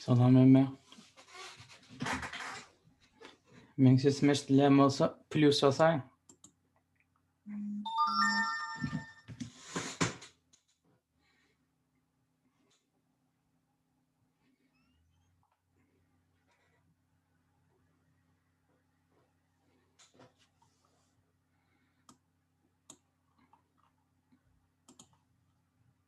Salam hemme. Meň sesim eşidilýän bolsa, plýus basaň.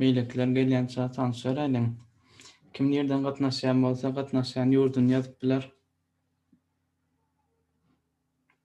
Beýlekiler gelýänçä tanyş beräýliň. Kim nirden gatnaşýan bolsa gatnaşýan ýurduny ýazyp biler.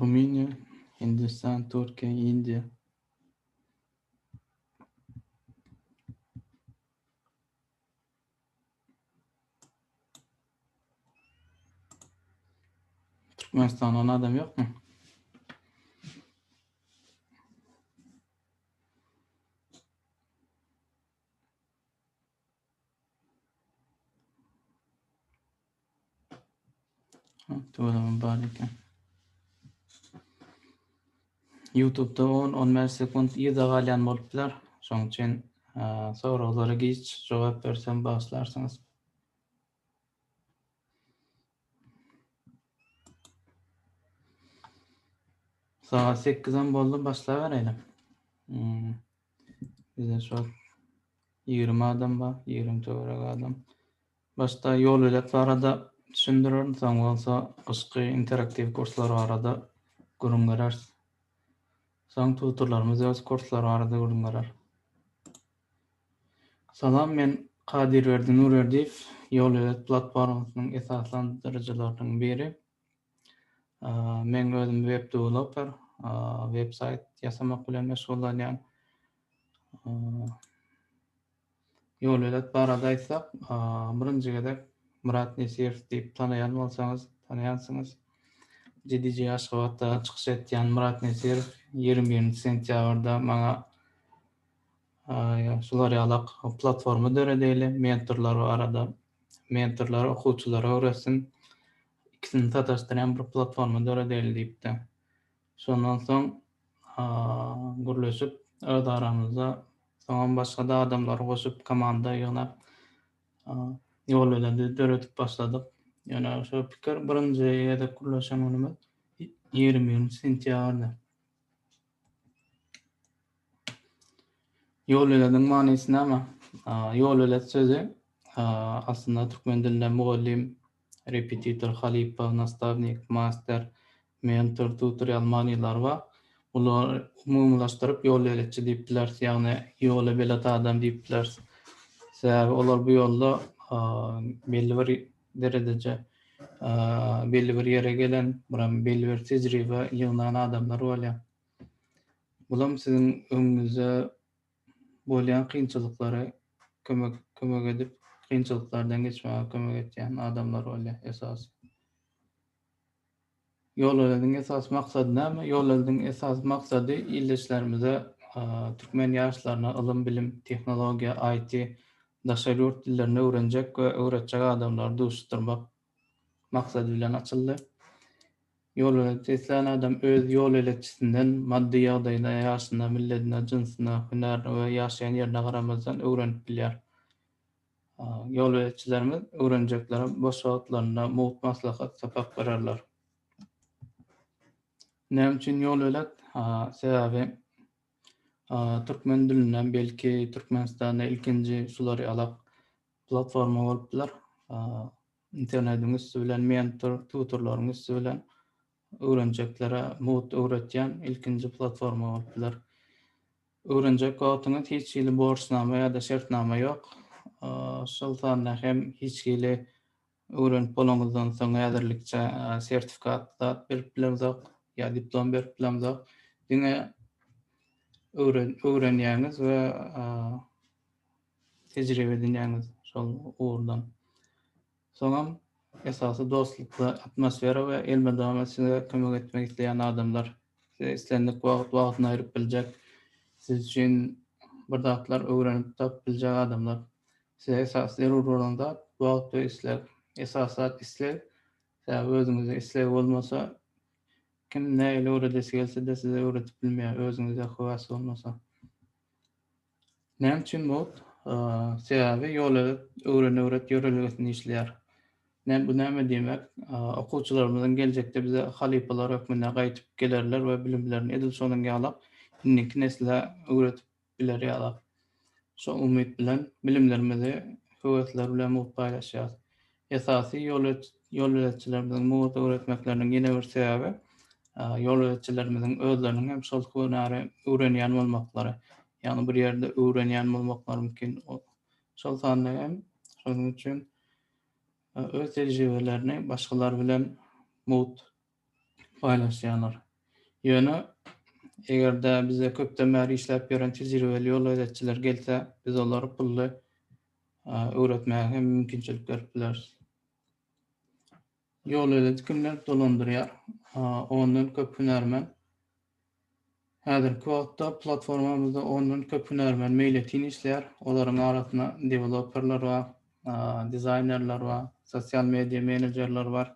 Rumyniýa, Hindistan, Türkiýe, Indiýa. Türkmenistandan adam ýokmy? Tuvalamam bar eken. YouTube-da 10-15 sekund ýyda galýan bolupdylar. Şonuň üçin soraglara giç jogap bersem bagyşlarsyňyz. Sagat sekizem boldy, başlabereýiň. Hmm. Bizde şol 20 adam bar, 20 töwerek adam. Başda ýol bilet barada düşündirerin, soň bolsa gyşky interaktiw kurslar barada gürrüň bereris. Soň tutorlarymyz öz kurslary barada gürrüň berer. Salam men Kadyrberdi Nurberdiýew Ýolöwez platformasynyň esaslandyryjylarynyň biri. Men özüm web dewloper, web saýt ýasamak bilen meşgullanýan. Ýolöwez barada aýtsak birinji gezek Myrat Nesirow diýip tanaýan bolsaňyz tanaýansyňyz. GDG Aşgabatda çykyş etýän Myrat Nesirow ýigrimi birinji sentýabrda maňa Şular ýaly platforma döredeli, mentorlar barada. Mentorlar okuwçylara öwretsin. Ikisini sataşdyrýan bir platforma döredeli diýipdi. Şondan soň gürleşip öz aramyzda soňam başga-da adamlary goşup komanda ýygnap ýol beledi döredip başladyk. Ýöne şu pikir birinji gezek gürleşen günümiz ýigrimi birinji sentýabrda. Ýolbelediň manysy näme? Ýolbelet sözi aslynda türkmen dilinde mugallym, repetitor, halypa, nastawnik, master, mentor, tutor ýaly manylary bar. Bulary umumylaşdyryp ýolbeletçi diýip bileris, ýagny ýola belet adam diýip bileris. Sebäbi olar bu ýolda belli bir deredeje belli bir ýere gelen, buram belli bir tejribe ýygnan adamlar bolýar. Bulam siziň öňüňizde bolýan kynçylyklary kömek kömek edip, kynçylyklardan geçmäge kömek etýän adamlar bolýar esasy. Ýolöňüň esasy maksady näme? Ýolöňüň esasy maksady ildeşlerimize türkmen ýaşlaryna ylym-bilim, tehnologiýa, IT, daşary ýurt dillerini öwrenjek we öwretjek adamlary duşuşdyrmak maksady bilen açyldy. Ýolöňe seslän adam öz ýol elekçisinden maddy ýagdaýyna, ýaşyna, milledine, jynsyna, hünärine we ýaşaýan ýerine garamazdan öwrenip bilýär. Ýolbeletçilerimiz öwrenjeklere boş wagtlarynda mugt maslahat, sapak bererler. Näme üçin ýolbelet? Sebäbi türkmen dilinde, belki Türkmenistanda ilkinji şular ýalak platforma bolup biler. Internetiň üsti bilen, mentor, tutorlaryň üsti bilen Öwrenjeklere mugt öwretýän ilkinji platforma bolup biler. Öwrenjek wagtyňyz hiç hili borçnama ýa-da şertnama ýok, şol sanda hem hiç hili öwrenip bolaňyzdan soň häzirlikçe sertifikat zat berip bilemzok ýa diplom berip bilemzok. Diňe öwrenýäňiz we tejribe edinýäňiz şol ugurdan. Soňam esasy dostlukly atmosfera we elmydama size kömek etmek isleýän adamlar. Size islendik wagt wagtyny aýryp biljek, siz üçin bir zatlar öwrenip tapyp biljek adamlar. Size esasy zerur bolan zat wagt we isleg. Esasy zat isleg, sebäbi özüňizde isleg bolmasa kim nähili öwredesi gelse-de size öwredip bilmeýär, özüňizde höwes bolmasa. Näme üçin bot? Sebäbi ýol edip, öwren-öwret ýörelgesinde işleýär. Näme bu näme diýmek? Okuwçylarymyzyň geljekde bize halypalar hökmünde gaýdyp gelerler we bilimlerini edil şonuň ýala indiki nesle öwredip biler ýala. Şo umyt bilen bilimlerimizi höwesler bilen mugt paýlaşýarys. Esasy ýolöletjilerimiziň mugt öwretmekleriniň ýene bir sebäbi ýolöletjilerimiziň özleriniň hem şol hünäri öwrenýän bolmaklary. Ýagny bir ýerde öwrenýän bolmaklary mümkin. Şol sanda hem şonuň üçin öz tejribelerini başgalar bilen mugt paýlaşýarlar. Ýöne, eger-de bize köpden bäri işläp ýören tejribeli ýol gözetijiler gelse, biz olary pully öwretmäge hem mümkinçilik berip bileris. Ýol gözeti kimler dolandyrýar? Ondan köp hünärmen Häzirki wagtda platformamyzda ondan köp hünärmen meýletin işleýär. Olaryň arasynda deweloperler bar, dizaýnerler bar, sosial media menejerler bar.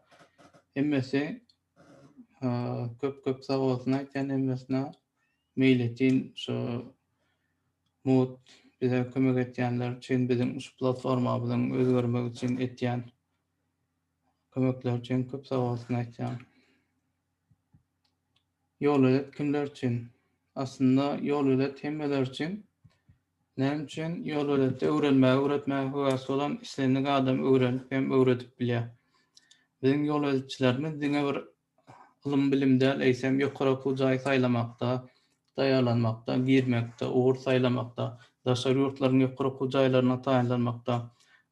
Hemmesi köp-köp sag bolsun aýtýan hemmesine. Meýletin şu mugt bize kömek etýänler üçin, biziň şu platformamyzyň özgermegi üçin etýän kömekleri üçin köp sag bolsun aýtýan. Ýolöýet kimler üçin? Aslynda ýolöýet hemmeler üçin. Näme üçin? Ýolöýetde öwrenmäge, öwretmäge höwäsli bolan islendik adam öwrenip hem öwredip bilýär. Biziň ýolöýetçilerimiz diňe bir ylym-bilim däl, eýsem ýokary okuw jaýy saýlamakda, taýýarlanmakda, girmekde, ugur saýlamakda, daşary ýurtlaryň ýokary okuw jaýlaryna taýynlanmakda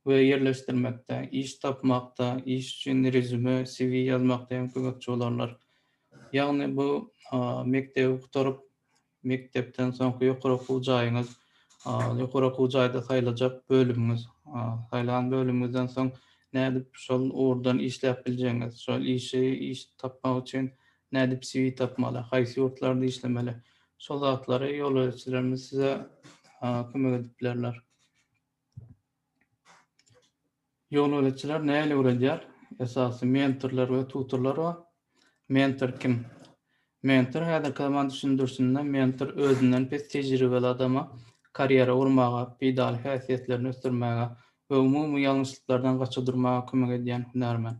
we ýerleşdirmekde, iş tapmakda, iş üçin rezüme, CV, ýazmakda hem kömekçi bolarlar. Ýagny bu mekdebi gutaryp, mekdepden soňky ýokary okuw jaýyňyz, ýokary okuw jaýda saýlajak bölümiňiz, saýlan bölümiňizden soň nädip şol ugurdan işläp biljegiňiz, şol işi, iş tapmak üçin Nädip CV tapmaly? Haýsy ýurtlarda işlemeli? Şol zatlary ýolöreçilerimiz size kömek edip bilerler. Ýolöreçiler nähili öwredýär? Esasy mentorlar we tutorlar bar. Mentor kim? Mentor häzirki zaman düşündirişinde mentor özünden pes tejribeli adama karýera gurmaga, peýdaly häsiýetlerini ösdürmäge, we umumy ýalňyşlyklardan gaça durmaga kömek edýän hünärmen.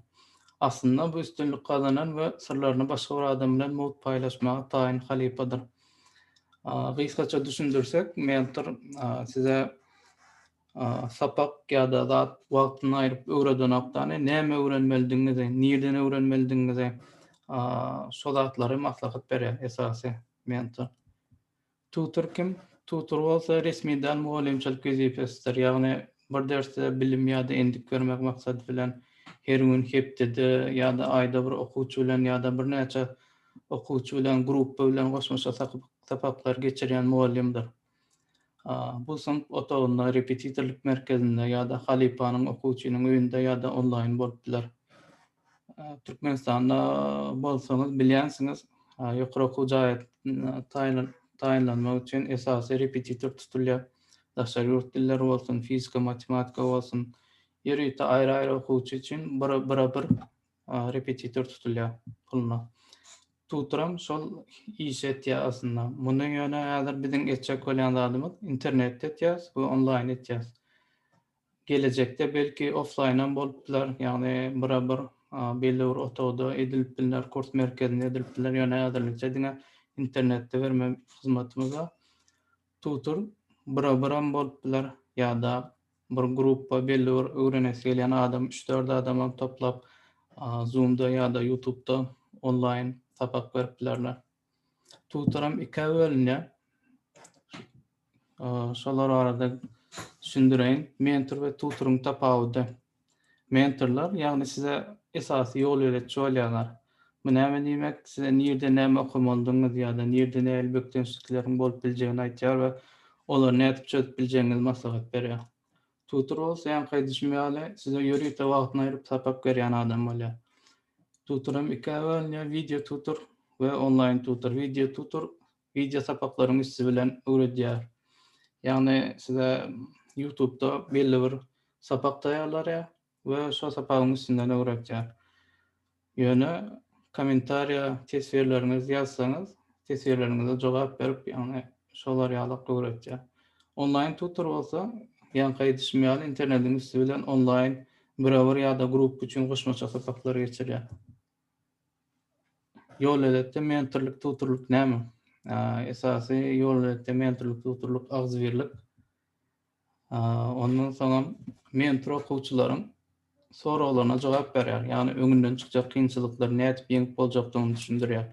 Aslynda bu üstünlik gazanan we syrlaryny başga bir adam bilen mugt paýlaşmaga taýyn halypadyr. Gysgaça düşündirsek, mentor size sapak ýa-da zat wagtyny aýryp öwredenokdany, näme öwrenmelidigiňizi, nirden öwrenmelidigiňizi, şo zatlary maslahat berýär esasy mentor. Tutor kim? Tutor bolsa resmi däl mugallymçylyk wezipesidir. Ýagny bir dersde bilim ýa-da endik bermek maksady bilen her gün, hepdede ýa-da aýda bir okuwçy bilen ýa-da birnäçe okuwçy bilen, gruppa bilen goşmaça sapak-sapaklary geçirýän mugallymdyr. Bu synp otagynda, repetitorlyk merkezinde ýa-da halypanyň, okuwçynyň öýünde ýa-da onlaýyn bolup biler. Türkmenistanda bolsaňyz bilýänsiňiz, ýokary okuw jaýa taýynlanmak üçin esasy repetitor tutulýar. Daşary ýurt dilleri bolsun, fizika, matematika bolsun, ýörite aýry-aýry okuwçy üçin bira-bir repetitor tutulýar puluna. Tutoram şol işi etýär aslynda. Muny ýöne häzir biziň etjek bolýan zadymyz internetde etýäris we onlaýn etýäris. Gelejekde belki oflaýnam bolup biler, ýagny bira bir belli bir otagda edilip bilner, kurs merkezinde edilip bilner, ýöne häzirlikçe diňe internetde berme hyzmatymyz bar. Tutor bira biram bolup biler, ýa-da bir gruppa belli bir öwrenesi gelýän adam üç-dört adamam toplap zoomda ýa-da ýutubda onlaýn sapak berip bilerler. Tutoram ikä bölünýär. Şolar barada düşündireýin. Mentor we tutoryň tapawudy. Mentorlar, ýagny size esasy ýol ýöretçi bolýarlar. Bu näme diýmek? Size nirde näme okamalydygyňyzy ýa-da nirde nähili bökdençlikleriň bolup biljegini aýtýar we olary nädip çözüp biljegiňizi maslahat berýär. Tutur bolsa ýaňky aýdyşym ýaly size ýörite wagtyny aýryp sapak berýän adam bolýar. Tutur hem ikä bölünýär, wideo tutur we onlaýn tutur. Wideo tutur wideo sapaklaryň üsti bilen öwredýär. Ýagny size Ýutubda belli bir sapak taýýarlarýar. we şo sapagyň üstünden öwretýär. Ýöne kommentariýa teswirleriňizi ýazsaňyz, teswirleriňize jogap berip, ýagny şolar ýalak öwretýär. Onlaýn tutor bolsa, ýaňky aýdyşym ýaly, internediň üsti bilen onlaýn birebir ýa-da gruppa üçin goşmaça sapaklary geçirýär. Ýolöletde mentorlyk tutorlyk näme? Esasy ýolöletde mentorlyk tutorlyk agzybirlik. Ondan soňam mentor okuwçylaryň soraglaryna jogap berýär. Ýagny öňünden çykjak kynçylyklary nädip ýeňip boljakdygyny düşündirýär.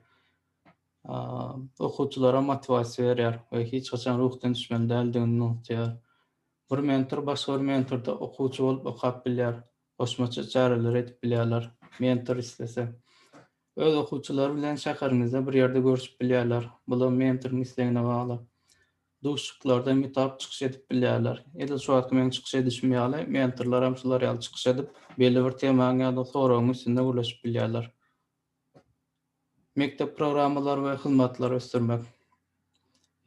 Okuwçylara motiwasiýa berýär we hiç haçan ruhdan düşmeli däldigini nygtaýar. Bir mentor başga bir mentorda okuwçy bolup okap bilýär, goşmaça çäreler edip bilýärler, mentor islese. Öz okuwçylary bilen şäheriňizde bir ýerde görüşip bilýärler, bulam mentoryň islegine bagly. Duşuşyklarda mütap çykyş edip bilýärler. Edil şu wagtky meň çykyş edişim ýaly, mentorlar hem şular ýaly çykyş edip, belli bir temaň ýa-da soragyň üstünde gürleşip bilýärler. Mekdep programmalary we hyzmatlary ösdürmek.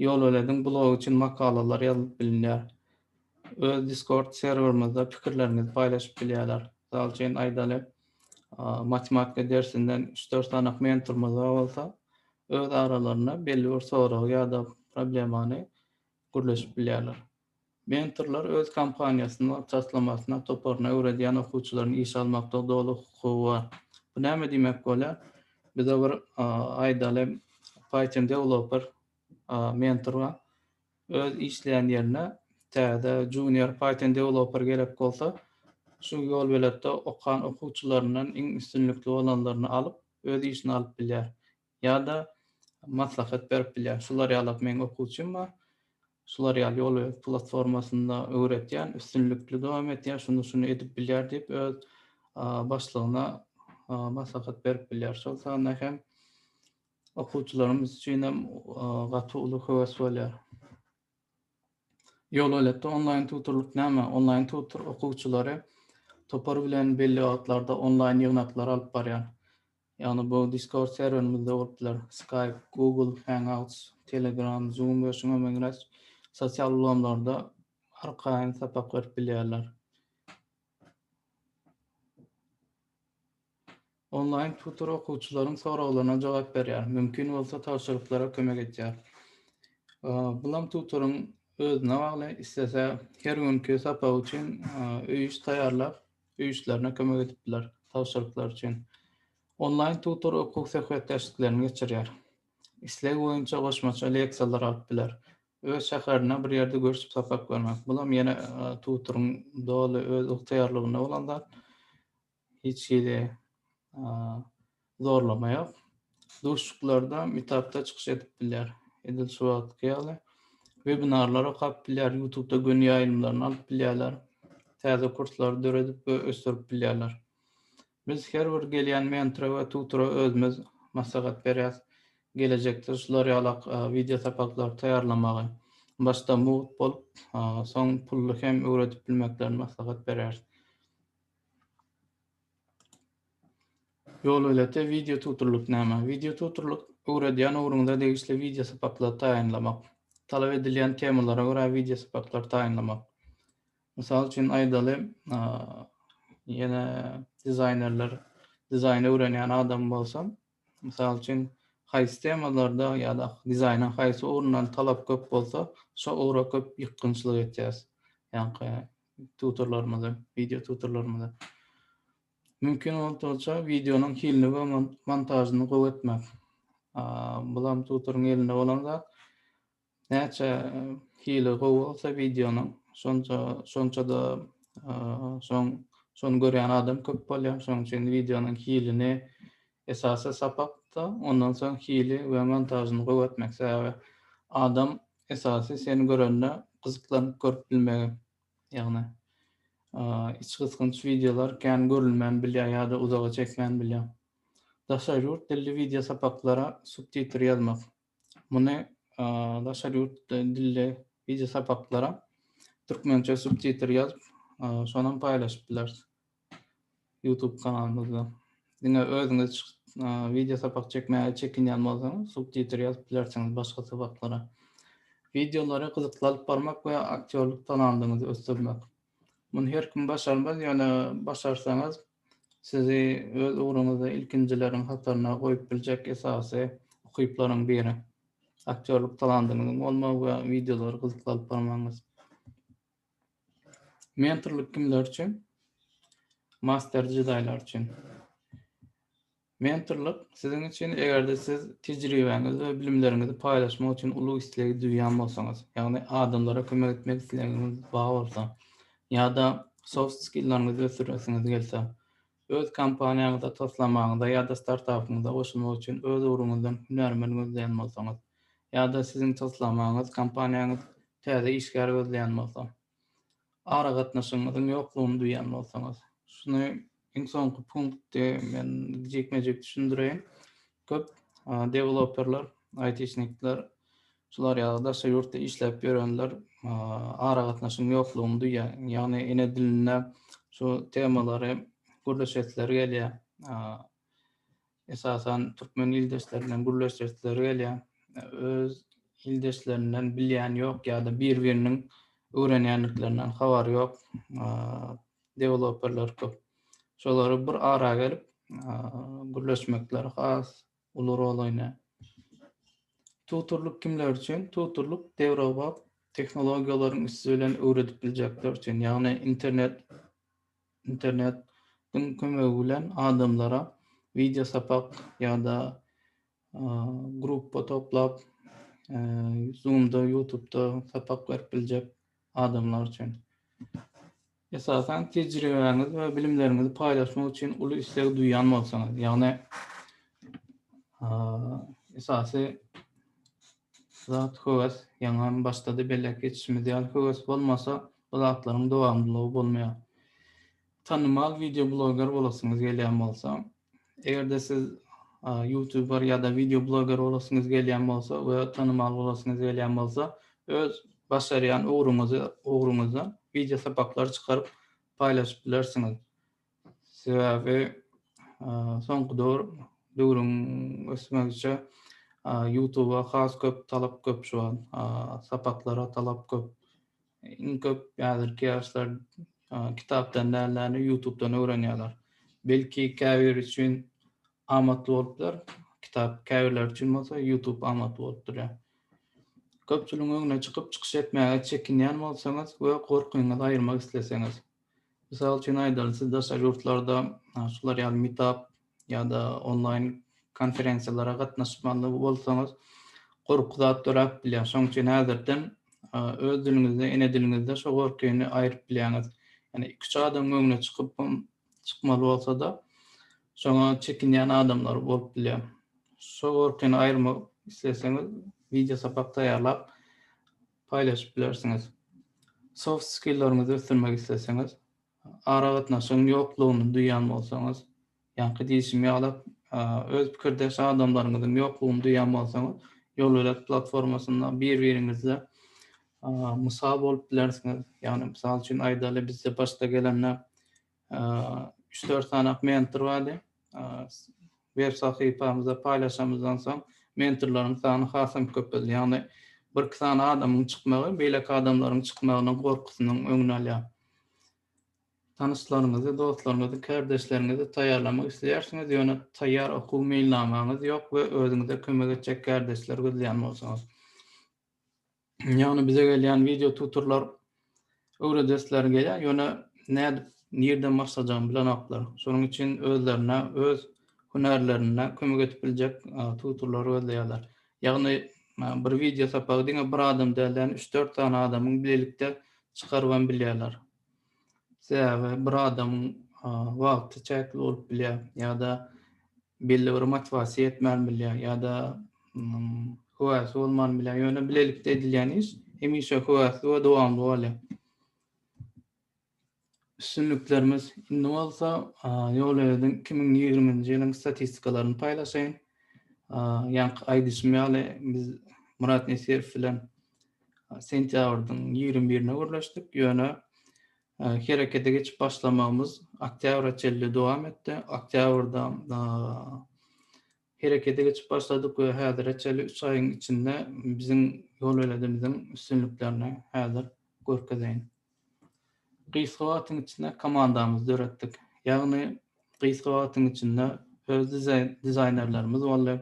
Ýolwelediň blogy üçin makalalar ýazylyp bilinýär. Öz Discord serwerimizde pikirleriňizi paýlaşyp bilýärler. Mysal üçin, aýdaly, matematika dersinden üç-dört sanak mentorymyz bar bolsa, öz aralarynda belli bir soragy ýa-da problemany gürleşip bilýärler. Mentorlar öz kompaniýasyna, taslamasyna, toparyna öwredýän okuwçylaryny işe almaklyga doly hukugy bar. Bu näme diýmek bolýar? Bize bir, aýdaly, Python dewloper mentor bar. Öz işleýän ýerine täze junior Python dewloper gerek bolsa, şu ýolbeletde okan okuwçylaryndan iň üstünlikli bolanlaryny alyp, öz işine alyp bilýär. Ýa-da maslahat berip bilýär. Şular ýalap meň okuwçym bar. Şular ýaly ýolbelent platformasynda öwretýän, üstünlikli dowam etýär, şuny-şuny edip bilýär diýip, öz başlygyna maslahat berip bilýär. Şol sanda hem Okuwçylarymyz üçin hem gaty uly höwes bolýar. Ýol elbetde onlaýn tutorlyk näme? Onlaýn tutor okuwçylary topar bilen belli wagtlarda onlaýn ýygnaklary alyp barýar. Ýagny bu Discord serwerimizde bolup biler, Skype, Google Hangouts, Telegram, Zoom we şuňa meňzeş sosial ulgamlarda arkaýyn sapak berip bilýärler. Onlaýn tutor okuwçylaryň soraglaryna jogap berýär, mümkin bolsa tabşyryklara kömek edýär. Bulam tutoryň özüne bagly, islese her günki sapak üçin öý iş taýýarlap, öý işlerine kömek edip biler, tabşyryklar üçin. Onlaýn tutor okuw söhbetdeşliklerini geçirýär. Islegi boýunça goşmaça leksiýalar alyp biler. Öz şäherinde bir ýerde görşüp sapak bermek, bulam ýene tutoryň doly öz ygtyýarlygynda bolan zat. Hiç hili zorlama ýok. Duşuşyklarda meetupda çykyş edip bilýär. Edil şu wagtky ýaly. Webinarlar okap bilýär, ýutubda göni ýaýlymlaryny alyp bilýärler. Täze kurslary döredip we ösdürip bilýärler. Biz her bir gelýän mentora we tutora özümiz maslahat berýäs. Gelejekde şular ýalak wideo sapaklary taýýarlamagy, başda mugt bolup, soň pully hem öwredip bilmeklerini maslahat berýäris. Ýol bileti, wideo tuturlyk näme? Wideo tuturlyk, öwredýän ugruňyza degişli wideo sapaklary taýynlamak. Talap edilýän temalara görä wideo sapaklary taýynlamak. Mysal üçin aýdaly, ýene dizaýnerler, dizaýn öwrenýän adam bolsa, mysal üçin haýsy temalarda ýa-da dizaýnyň haýsy ugrundan talap köp bolsa, şo ugra köp ýykgynçlyk etýäs. Ýagny tutorlarymyzy, wideo tutorlarymyzy. Mümkin bolsa videonyň hilini we montažyny gowy etmek. Bulam tutoryň elinde bolan zat. Näçe hili gowy bolsa videonyň, şonça şonça-da şoň şony görýän adam köp bolýar. Şonuň üçin videonyň hilini, Esasy sapakda ondan soň hili we montažyny gowy etmek sebäbi adam esasy seni görende gyzyklanyp görüp bilmegi ýagny iç gysgynç wideolar kän görülmän bilýär ýa-da uzaga çekmän bilýär. Daşary ýurt dilli wideo sapaklara subtitr ýazmak Muny daşary ýurt dilli wideo sapaklara türkmençe subtitr ýazyp, şonam paýlaşyp bileris YouTube kanalymyzda. Diňe özüňiz wideo sapak çekmäge çekinýän bolsaňyz, subtitr ýazyp bilersiňiz başga sapaklara. Wideolary gyzykly alyp barmak we aktýorlyk talandyňyzy ösdürmek. Muny her kim başarmaz, ýöne başarsaňyz, sizi öz ugruňyzda ilkinjileriň hataryna goýup biljek esasy ukyplaryň biri, aktýorlyk talandyňyzyň bolmagy we wideolary gyzykly alyp barmagyňyz. Mentorlyk kimler üçin? Master jedaýlar üçin. Mentorlyk, siziň üçin eger-de siz tejribäňizi we bilimleriňizi paýlaşmak üçin uly islegi duýýan bolsaňyz, ýagny adamlara kömek etmek islegiňiz bar bolsa, ýa-da soft skilleriňizi ösdüresiňiz gelse, öz kompaniýaňyza, taslamaňyza ýa-da startapyňyza goşulmak üçin öz ugruňyzdan hünärmen gözleýän bolsaňyz, ýa-da siziň taslamaňyz kompaniýaňyz täze işgär gözleýän bolsa. aragatnaşygyňyzyň ýoklugyny duýan bolsaňyz. Şuny iň soňky punkty men jikme-jik düşündireýin. Köp deweloperler, aýtişnikler şular ýaly daşary ýurtda işläp ýörenler aragatnaşygyň ýoklugyny duýýar. Ýagny ene dilinde şu temalary gürleşesileri gelýär. esasan türkmen ildeşlerinden gürleşesileri gelýär. Öz ildeşlerinden bilýän ýok ýa-da bir-biriniň öwrenýändiklerinden habary ýok deweloperler köp. Şolary bir ara gelip gürleşmekleri has uly rol oýnaýar. Tutorlyk kimler üçin? Tutorlyk döwrebap tehnologiýalaryň üsti bilen öwredip biljekler üçin, ýagny internet Internet diň kömegi bilen adamlara wideo sapak ýa-da gruppa toplap zoomda ýutubda sapak berip biljek adamlar üçin. Esasan tejribäňiz we bilimleriňizi paýlaşmak üçin uly isleg duýýan bolsaňyz ýagny esasy Tutuş zat höwes, ýaňam başda-da belläp geçişimiz ýaly, höwes bolmasa, bu zatlaryň dowamlylygy bolmaýar. Tanymal wideobloger bolasyňyz gelýän bolsa, eger-de siz ýutuber ýa-da wideobloger bolasyňyz gelýän bolsa we tanymal bolasyňyz gelýän bolsa, öz başarýan ugruňyzda wideo sapaklar çykaryp paýlaşyp bilersiňiz. Sebäbi soňky döwür döwrüň ösmegiçe Youtuba has köp talap köp şu an. Sapaklara talap köp. Iň köp häzirki ýaşlar kitapdan däl-de Youtubedan öwrenýärler. Belki käbiri üçin amatly bolupdyr. Kitap käbirleri üçin bolsa Youtube amatly bolup durýar. Köpçüligiň öňüne çykyp çykyş etmäge çekinýän bolsaňyz we gorkyňyzy aýyrmak isleseňiz. Mysal üçin aýdaly, siz daşary ýurtlarda şular ýaly meetup ýa-da onlaýn konferensiýalara gatnaşmaly bolsaňyz, gorky zat döräp bilýär. Şonuň üçin häzirden öz diliňizde, ene diliňizde şo gorkyny aýryp bilýäňiz. Ýani iki-üç adamyň öňüne çykypam, çykmaly bolsa-da, şoňa çekinýän adamlar bolup bilýär. Şo gorkyny aýyrmak isleseňiz, wideo sapak taýýarlap, paýlaşyp bilersiňiz. Soft skilleriňizi ösdürmek isleseňiz, aragatnaşygyň ýoklugyny duýýan bolsaňyz, ýaňky diýşim ýaly, öz pikirdeş adamlaryňyzyň ýoklugyny duýýan bolsaňyz, Ýolölet platformasynda bir-biriňize mysal bolup bilersiňiz. Ýagny, mysal üçin aýdaly, bizde başda gelende üç dört sany mentor bardy. Web sahypamyzda paýlaşanymyzdan soň mentorlaryň sany hasam köpeldi. Ýagny bir iki sany adamyň çykmagy beýleki adamlaryň çykmagynyň gorkusynyň öňüni alýar. Tanyşlaryňyzy, dostlaryňyzy, kärdeşleriňizi taýýarlamak isleýärsiňiz, ýöne taýýar okuw meýilnamaňyz ýok we özüňize kömek etjek kärdeşleri gözleýän bolsaňyz. Ýagny bize gelýän wideo tutorlar öwredesleri gelýär, ýöne nädip, nirden başlajagyny bilenoklar. Şonuň üçin özlerine, öz hünärlerine kömek edip biljek tutorlary gözleýärler. Ýagny bir wideo sapagy diňe bir adam däl-de, ýagny üç-dört sany adamyň bilelikde çykaryp hem bilýärler. Sebäbi bir adamyň wagty çäkli bolup bilýär ýa-da belli bir motiwasiýa ýetmän bilýär ýa-da höwäsi bolman bilýär. Ýöne bilelikde edilýän iş hemişe höwäsli we dowamly bolýar. Üstünliklerimiz indi bolsa Ýolöýüdiň 2020-nji ýylyň statistikalaryny paýlaşaýyn. Ýaňky aýdyşym ýaly biz Murat Nesirow bilen sentýabrdyň ýigrimi birine gürleşdik, ýöne herekete geçip başlamagymyz oktýabra çenli dowam etdi. Oktýabrda herekete geçip başladyk we häzire çenli üç aýyň içinde biziň ýolbeledimiziň üstünliklerini häzir görkezeýin. Gysga wagtyň içinde komandamyzy döretdik. Ýagny gysga wagtyň içinde öz dizaýnerlerimiz boldy.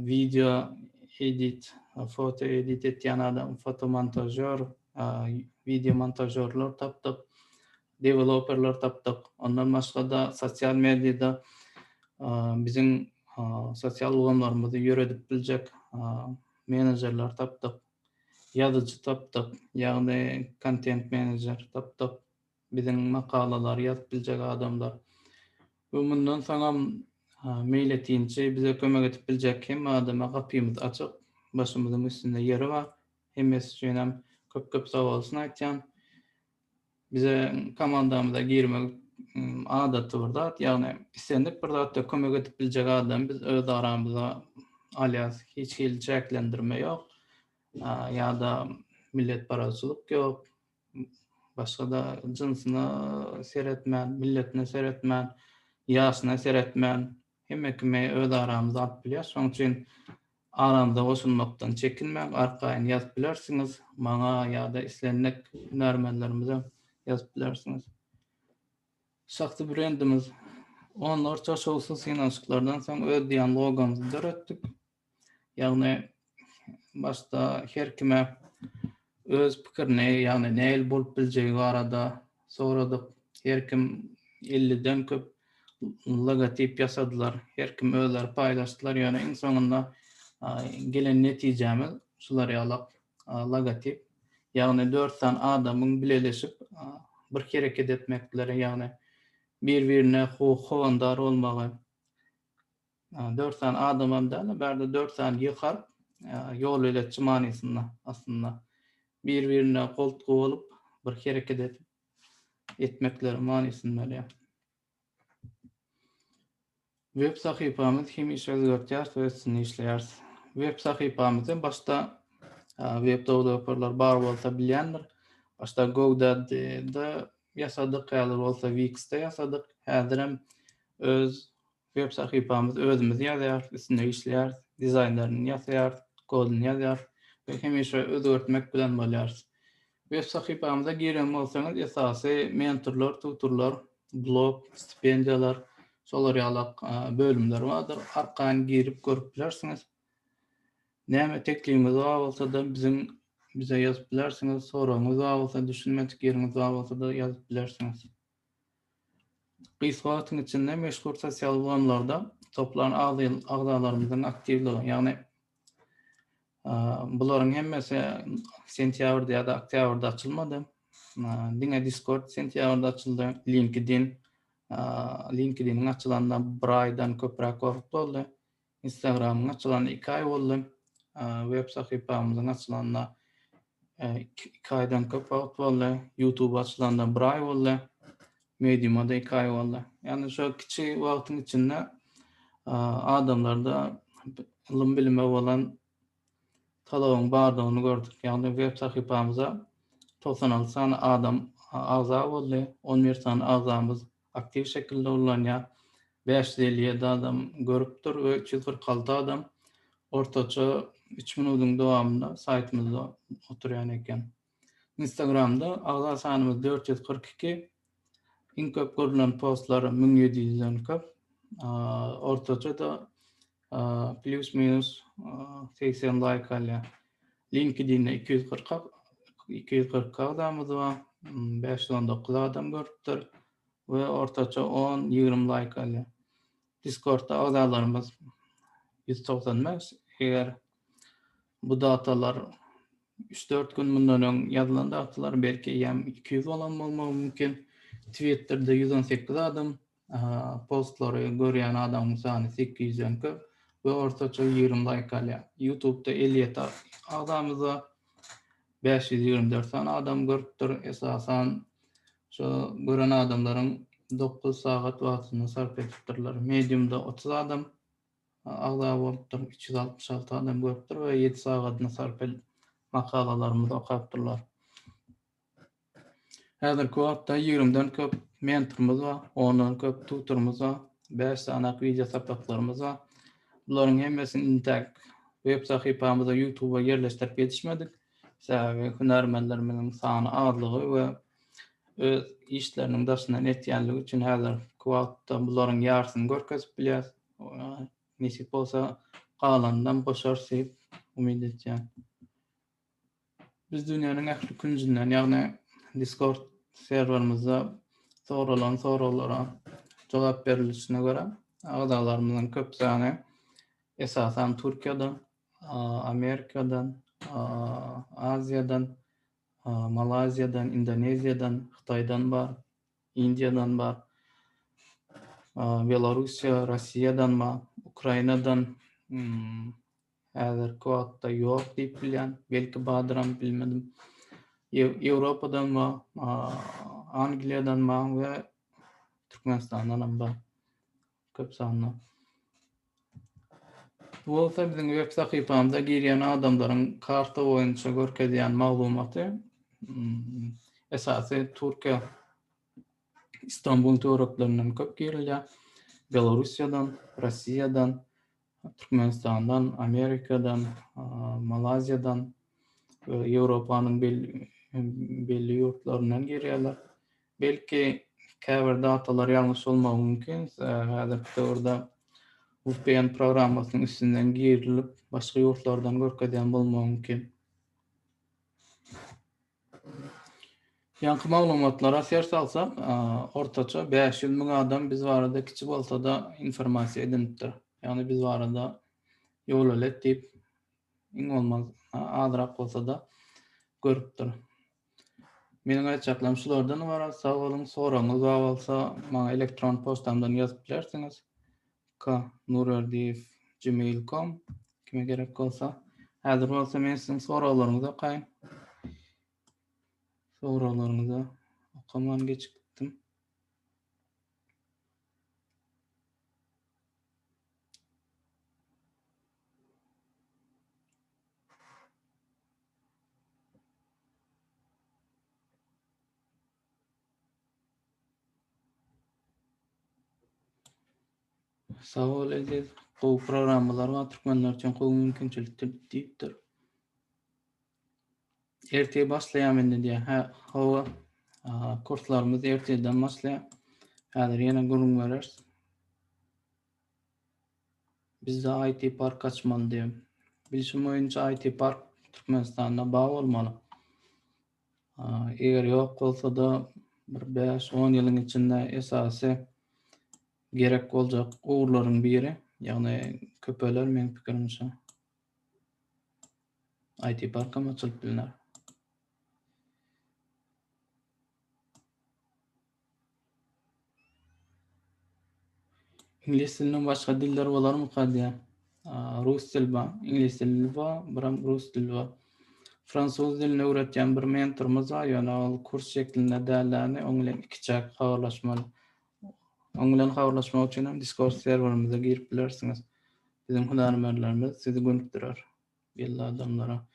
Video edit, foto edit etýän adam, fotomontažýor, video montažýorlar tapdyk, deweloperler tapdyk. Ondan başga-da sosial mediada biziň sosial ulgamlarymyzy ýöredip biljek menejerler tapdyk, ýazyjy tapdyk, ýagny kontent menejer tapdyk. biziň makalalary ýazyp biljek adamlar we mundan soňam meýletinçi bize kömek edip biljek hemme adama gapymyz açyk, başymyzyň üstünde ýeri bar. Hemmesi üçinem köp köp sabolsun aýtýan. Bize komandamyza girmek adaty bir zat, ýagny islendik bir zatda kömek edip biljek adamy biz öz aramyza alýas, hiç hili çäklendirme ýok ýa-da milletparazçylyk ýok, Başga-da jynsyna seretmän, milletine seretmän, ýaşyna seretmän, hemme kimi öz aramyza alyp bilýäs. Şonuň üçin aramyza goşulmakdan çekinmäň, arkaýyn ýazyp bilersiňiz. Maňa ýa-da islendik hünärmenlerimize ýazyp bilersiňiz. Şahsy brendimiz. Onlarça şowsuz synanyşyklardan soň öz diýen logomyzy döretdik. Ýagny başda her kime öz pikirini, ýagny nähili bolup biljegi barada soradyk. Her kim elliden köp logotip ýasadylar. Her kim özleri paýlaşdylar. Ýöne iň soňunda gelen netijämiz şular ýaly logotip. Ýagny dört sany adamyň bileleşip bir hereket etmekleri, ýagny bir-birine howandar bolmagy. Dört sany adamam däl-de, bärde dört sany ýy harp, ýolbeletçi manysynda aslynda. Bir-birine goltgy bolup, bir hereket edip, etmekleri manysyny berýär. Web sahypamyz hemişe özgertýäris we üstünde işleýäris. Web sahypamyzy başda web dowlaperler bar bolsa bilýändir. Başda GoDaddy-de ýasadyk, häzir bolsa Wix-de ýasadyk. Häzirem öz Web sahypamyz özümiz ýazýarys, üstünde işleýäris, dizaýnlaryny ýasaýarys, kodyny ýazýarys we hemişe özgertmek bilen bolýarys. Web sahypamyza giren bolsaňyz esasy mentorlar, tutorlar, blog, stipendiýalar, şolar ýaly bölümler bardyr. Arkaýyn girip görüp bilersiňiz. Näme teklibiňiz bar bolsa-da biziň bize ýazyp bilersiňiz, soragyňyz bar bolsa, düşünmedik ýeriňiz bar bolsa-da ýazyp bilersiňiz. Gysga wagtyň içinde meşhur sosial ulgamlarda toplan agzalarymyzyň aktiwligi, ýagny bularyň hemmesi sentýabrda ýa-da oktýabrda açylmady. Diňe Discord sentýabrda açyldy. LinkedIn, LinkedIn-iň açylanyna bir aýdan köpräk wagt boldy. Instagramyň açylany iki aý boldy. Web sahypamyzyň açylanyna iki aýdan köp wagt boldy. YouTube açylanda bir aý boldy. Medium'a da iki aý boldy. Yani şu kiçi wagtyň içinde adamlarda ylym bilime bolan talabyň bardygyny gördük. Ýagny web sahypamyza togsan alty sany adam agza boldy, on bir sany agzamyz aktiw şekilde ullanýar, bäş ýüz elli ýedi adam görüpdir we üç ýüz kyrk alty adam ortaça üç minudyň dowamynda saýtymyzda oturýan eken. Instagramda agza sanymyz dört ýüz kyrk iki, iň köp görülen postlar müň ýedi ýüzden köp, ortaça-da plyus-minus segsen laýk alýar. LinkedIn-de iki ýüz kyrk iki ýüz kyrk iki agzamyz bar, bäş ýüz on dokuz adam görüpdir we ortaça on, ýigrimi laýk alýar. Discord-da agzalarymyz ýüz togsan bäş, eger Bu datalar üç-dört gün mundan öň ýazylan datalar, belki eýýäm iki ýüz bolan bolmagy mümkin. Twitterde ýüz on sekiz adam, postlary görýän adamyň sany sekiz ýüzden köp we ortaça ýigrimi laýk alýar. Ýutubda elli ýedi agzamyza bäş ýüz ýigrimi dört sany adam görüpdir. Esasan, şo gören adamlaryň dokuz sagat wagtyny sarp edipdirler. Mediumda otuz adam, agza bolupdyr, üç ýüz altmyş alty adam görüpdir we ýedi sagadyny sarp edip, makalalarymyzy okapdyrlar. Häzirki wagtda ýigrimiden köp mentorymyz bar, ondan köp tutorymyz bar, bäş sanyýak wideo sapaklarymyz bar. Bularyň hemmesini intäk web sahypamyza, YouTube-a ýerleşdirip ýetişmedik. Sebäbi hünärmenlerimiziň sany azlygy we öz işleriniň daşyndan etýänligi üçin häzirki wagtda bularyň ýarsyny görkezip bilýäris. Oňa nesip bolsa galanynam goşarys diýip umyt edýän. Biz dünýäniň ähli künjünden, ýagny Discord serwerimizde soralan soraglara jogap berilişine görä, agzalarymyzyň köp sany esasan Türkiýeden, Amerikadan, Aziýadan, Malaýziýadan, Indoneziýadan, Hytaýdan bar. Indiýadan bar, Belorussiýa, Rossiýadan bar, Ukrainadan häzirki wagtda ýok diýip bilýän, belki bardyram bilmedim. Ýewropadan bar, Angliýadan bar we Türkmenistandanam bar. Köp sanly. Bu bolsa biziň web sahypamyza girýän adamlaryň karta boýunça görkezýän maglumaty. Hmm, esasy Türkiýe Istanbul töwereklerinden köp girilýär. Belorussiýadan, Russiýadan, Türkmenistandan, Amerikadan, Malaýziýadan we Ýewropanyň belli ýurtlaryndan girýärler. Belki käbir datalar ýalňyş bolmagy mümkin. Häzirki döwürde VPN programmasynyň üstünden girilip, başga ýurtlardan görkezýän bolmagy mümkin. Ýaňky maglumatlara ser salsak, ortaça bäş ýüz müň adam biz barada kiçi bolsa-da informasiýa edinipdir. Ýagny biz barada ýolölet diýip, iň bolmanda azrak bolsa-da görüpdir. Meniň aýtjaklarym şulardan ybarat. Sag boluň. Soragyňyz bar bolsa, maňa elektron poçtamdan ýazyp bilersiňiz. K. Nurberdiýew gmail com Kime gerek bolsa. Häzir bolsa men siziň soraglaryňyzy okaýyn. Soraglaryňyzy okaman geçip gitdim. Sag bol Eziz. Gowy programmalar bar, türkmenler üçin gowy mümkinçilikdir diýipdir. Ertir başlaýar mende diýär. Hä, hawa. Kurslarymyz ertirden başlaýar. Häzir ýene gürrüň bereris. Bizde IT park açmaly diýip. Bilşim boýunça IT park Türkmenistanda bar bolmaly. Eger ýok bolsa-da bir 5-10 ýylyň içinde esasy gerek boljak ugurlaryň biri, ýagny köpeler meň pikirimçe. IT parkam açylyp bilner. Iňlis dilinden başga diller bolarmyka diýýär. Rus dili bar, iňlis dili bar, biram rus dili bar. Fransuz dilini öwretýän bir mentorumyz bar, ýöne ol kurs şeklinde dälläni, oň bilen ikiçäk habarlaşmaly. Oň bilen habarlaşmak üçin hem Discord serwerimize girip bilersiňiz. Biziň hünärmenlerimiz sizi gönükdirer belli adamlara.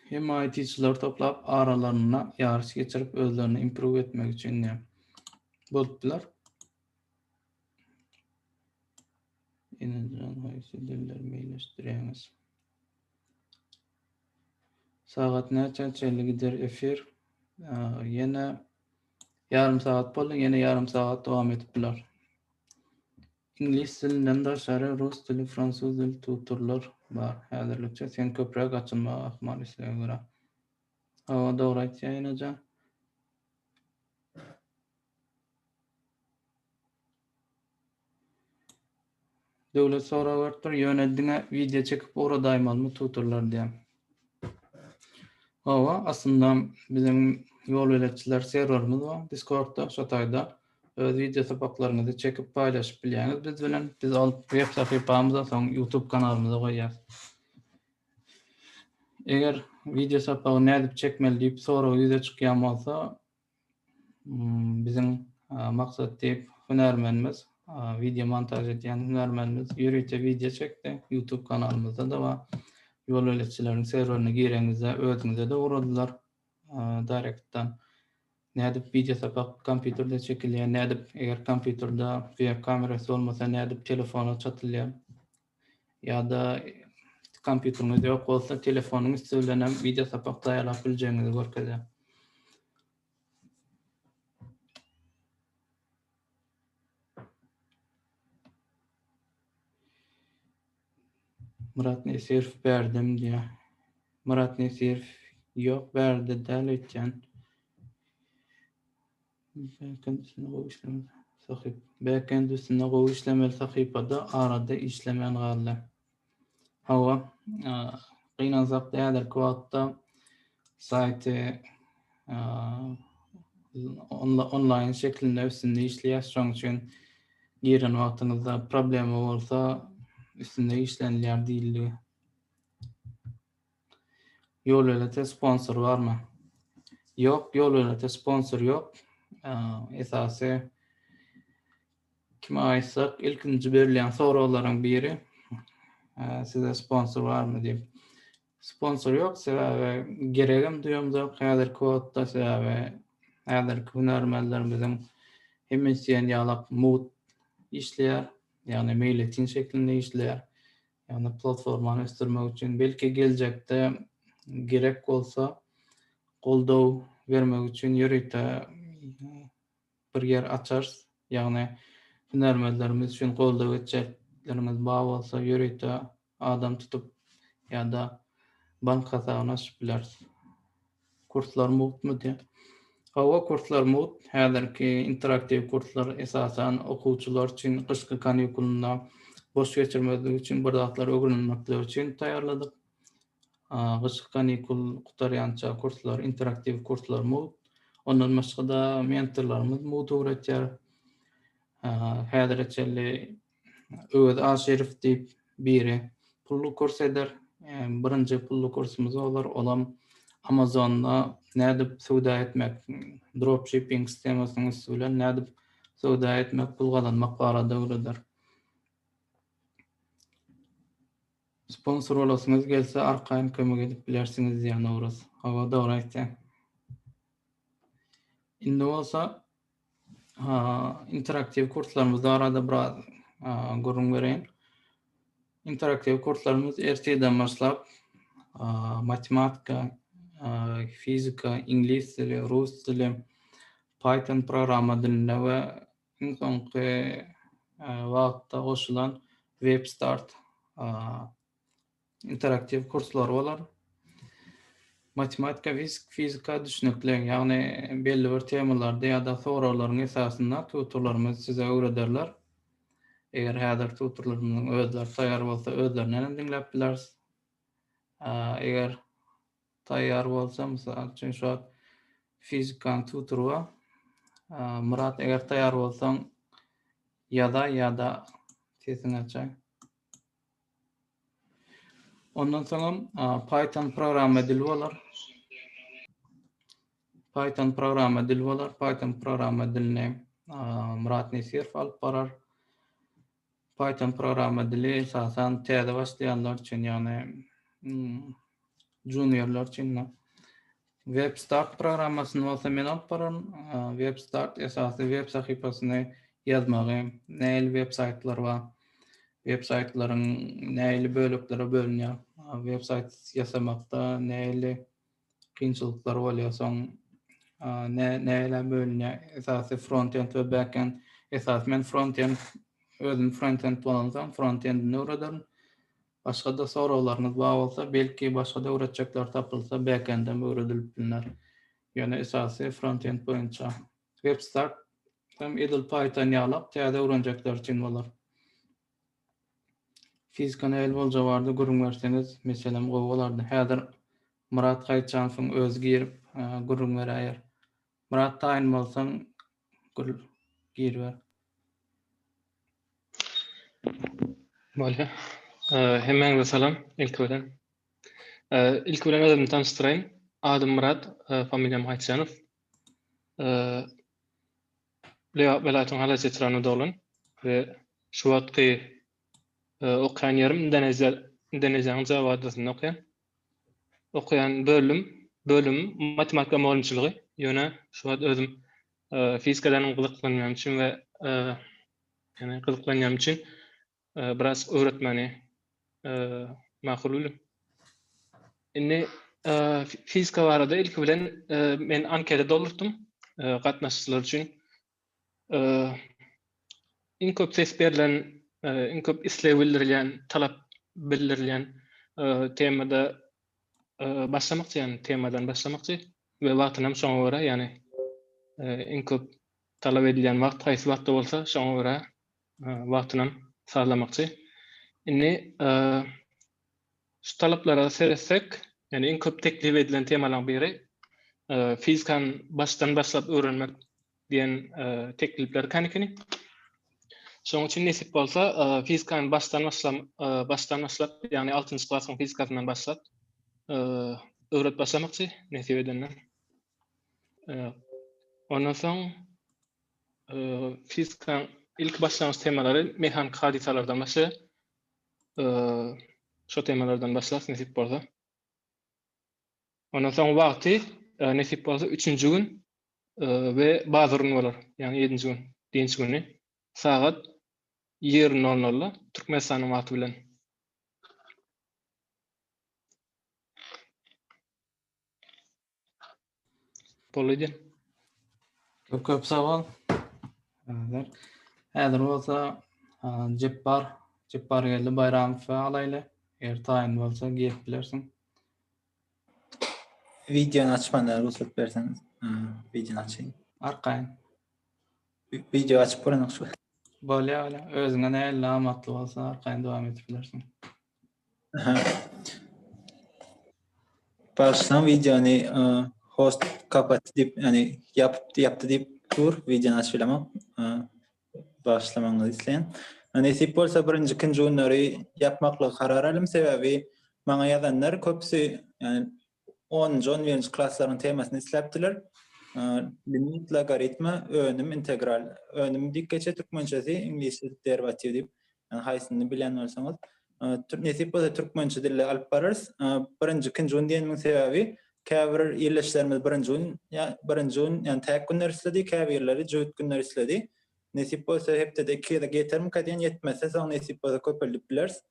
Hemme IT-çylary toplap, aralarynda ýaryş geçirip, özlerini improve etmek üçin ne bolupdylar? Ýene-de haýsy dilleri meýilleşdirýäňiz? Sagat näçä çenli gider efir? Ýene ýarym sagat boldy, ýene ýarym sagat dowam edip biler. Iňlis dilinden daşary rus dili, fransuz dili tutorlar bar häzirlikçe. Sen köpräk açylmagy ahmal islege görä. Hawa dogry aýtýa enejan. Döwlet sorag beripdir, ýöne diňe wideo çekip ugradaýmalymy tutorlar diýen. Hawa, aslynda biziň ýolbeletçiler serwerimiz bar Discord-da, şo taýda öz wideo sapaklaryňyzy çekip paýlaşyp bilýäňiz biz bilen. Biz ol web sahypamyza, soň YouTube kanalymyza goýýarys. Eger wideo sapagy nädip çekmeli diýip sorag ýüze çykýan bolsa, biziň maksat diýip hünärmenimiz wideo montaž edýän hünärmenimiz ýörite wideo çekdi youtube kanalymyzda da bar ýol beletçileriň serwerine gireňizde özüňize de uradylar direktdan nädip wideo sapak kompýuterde çekilýär nädip eger kompýuterde web kamerasy bolmasa nädip telefona çatylýar ýa-da kompýuteriňiz ýok bolsa, telefonyň üsti bilen hem wideo sapak taýýarlap biljegiňizi görkezýär. Myrat Nesirov berdim diýär. Myrat Nesirov ýok berdi däl öýtýän. Backend üstünde gowy işlemeli sahyp. Backend üstünde gowy işlemeli sahypada arada işlemän galdy. Hawa, gynansak da häzirki wagtda saýty onlaýn şekilinde üstünde işleýär. Şonuň üçin giren wagtyňyzda problema bolsa üstünde işlenilýär diýildi. Ýolölete sponsor barmy? Ýok, ýolölete sponsor ýok. Esasy kime aýtsak, ilkinji berilýän soraglaryň biri size sponsor barmy diýip. Sponsor ýok, sebäbi geregem duýamzok häzirki wagtda, sebäbi häzirki hünärmenlerimiziň hemmesi diýen ýalak mugt işleýär, ýagny meýletin şeklinde işleýär. Ýagny platformany ösdürmek üçin, belki geljekde gerek bolsa goldaw bermek üçin ýörite bir ýer açarys. Ýagny hünärmenlerimiz üçin goldaw etjeklerimiz bar bolsa ýörite adam tutup ýa-da bank hasabyny açyp bileris. Kurslar mugtmy diýýär. Hawa, kurslar mugt. Häzirki interaktiw kurslar esasan okuwçylar üçin gyşky kanikulynda boş geçirmezlik üçin, bir zatlar ögrenilmekleri üçin taýýarladyk. Gyşky kanikul gutarýança kurslar, interaktiw kurslar mugt. Ondan başga-da mentorlarymyz mugt öwretýär. Häzire çenli Öwez Aşyrow diýip biri pully kurs eder. Birinji pully kursumyz bolar, olam Amazonda nädip söwda etmek, dropshipping sistemasynyň üsti bilen nädip söwda etmek, pul gazanmak barada öwreder. Sponsor bolasyňyz gelse, arkaýyn kömek edip bilersiňiz diýýär Nowruz. Hawa, dogry aýtýaň. Indi bolsa interaktiw kurslarymyz barada biraz gürrüň bereýin. Interaktiw kurslarymyz ertirden başlap matematika, fizika, iňlis dili, rus dili, Python programma dilinde we iň soňky wagtda goşulan WebStart interaktiw kurslar bolar. Matematika, fizika düşnükli, ýagny belli bir temalarda ýa-da soraglaryň esasynda tutorlarymyz size öwrederler. Eger häzir tutorlarymyzyň özleri taýýar bolsa, özlerinden hem diňläp bileris. Eger taýýar bolsa, mysal üçin şu wagt fizikanyň tutory bar. Myrat, eger taýýar bolsaň, ýazaý ýa-da sesiňi açaý. Ondan soňam Python programma dili bolar. Python programma dili bolar. Python programma dilini Murat Nesirov alyp barar. Python programma dili esasan täze başlaýanlar üçin, ýagny juniorlar üçin WebStart programmasyny bolsa men alyp bararyn. WebStart esasy web sahypasyny ýazmagy, nähili web saýtlar bar, web saýtlaryň nähili böleklere bölünýär, web saýt ýasamakda nähili kynçylyklar bolýar, soň nähili bölünýär, esasy frontend we backend. Esasy men frontend, özüm frontend bolansoň frontendini öwrederin. Başgada soraglaryňyz bar bolsa belki başgada öwretjekler tapylsa backendem öwredilip bilner. Ýöne esasy frontend boýunça. Webstack hem edil python ýalak täze öwrenjekler üçin bolar. Fizika nähili bolja bardy gürrüň berseňiz meselem gowy bolardy. Häzir Myrat Gaýytjanowyň özi girip gürrüň beräýer. Myrat taýyn bolsaň Gül giriber. Bolýa. Hemmäňize salam ilki bilen. Ilki bilen özümi tanyşdyraýyn. Adym Myrat, familiýam Haýtjanow. Lebap welaýatynyň Halaýjy etrabynda doglan we şu wagtky okaýan ýerim Indoneziýa, Indoneziýanyň Jawa adasynda okaýan. okaýan bölüm bölümim matematika mugallymçylygy ýöne şu wagt özüm fizikadan gyzyklanýan üçin we ýöne gyzyklanýan üçin biraz öwretmeni makul bildim indi fizika barada ilki bilen men anketa doldurtdym gatnaşyjylar üçin iň köp ses berlen, iň köp isleg bildirilýän, talap bildirilýän temada başlamakçy, ýagny temadan başlamakçy we wagtyny hem şoňa görä, ýagny iň köp talap edilýän wagt haýsy wagtda bolsa, şoňa görä wagtyny hem sazlamakçy. Indi Şu talaplara seretsek, ýagny iň köp teklip edilen temalaryň biri fizikany başdan başlap öwrenmek diýen teklipler ekeni ikeni. Şonuň üçin nesip bolsa, fizikany başdan başlam, başdan başlap, ýagny 6-njy klasyň fizikasyndan başlap öwret başlamakçy nesip edende. Ondan soň fizikaň ilki başlangyç temalary mehaniki hadysalardan başlaýar. şo temalardan başlas nesip bolsa. Ondan soň wagty nesip bolsa 3-nji gün we bazurun bolar. Ýagny 7-nji gün, dynç güni sagat 20.00-da Türkmenistanyň wagty bilen. Bolýar. Köp köp sag bol. Häzir. Häzir bolsa Jepbar, Jepbar geldi Baýramowy alaýly. Eger taýyn bolsa gelip bilersiň. Wideony açmanda rugsat berseňiz, wideony açaýyn. Arkaýyn. Wideo açyp görmek şu. Bolýar, bolýar. Özüňe nähili amatly bolsa arkaýyn dowam edip bilersiň. Başdan videony host kapatdy diýip, ýagny ýapypdy, ýapdy diýip dur, videony açyp bilemok. Bagyşlamagyňyzy isleýän. Nesip bolsa birinji, ikinji günleri ýapmaklygy karar alym, sebäbi maňa ýazanlar köpüsi, ýagny Onunjy, on birinji klaslaryň temasyny isläpdiler. Limit, logaritma, önüm, integral. Önüm diýip geçýär türkmençesi, iňlisçe derivatiw diýip. Ýani haýsyny bilýän bolsaňyz. Nesip bolsa türkmençe dilde alyp bararys. Birinji, ikinji gün diýenimiň sebäbi käbir ildeşlerimiz birinji gün, birinji gün, ýani täk günler isledi, käbirleri jübüt günler isledi. Nesip bolsa hepdede iki gezek ýetermika diýen, ýetmese soň nesip bolsa köpeldip bileris.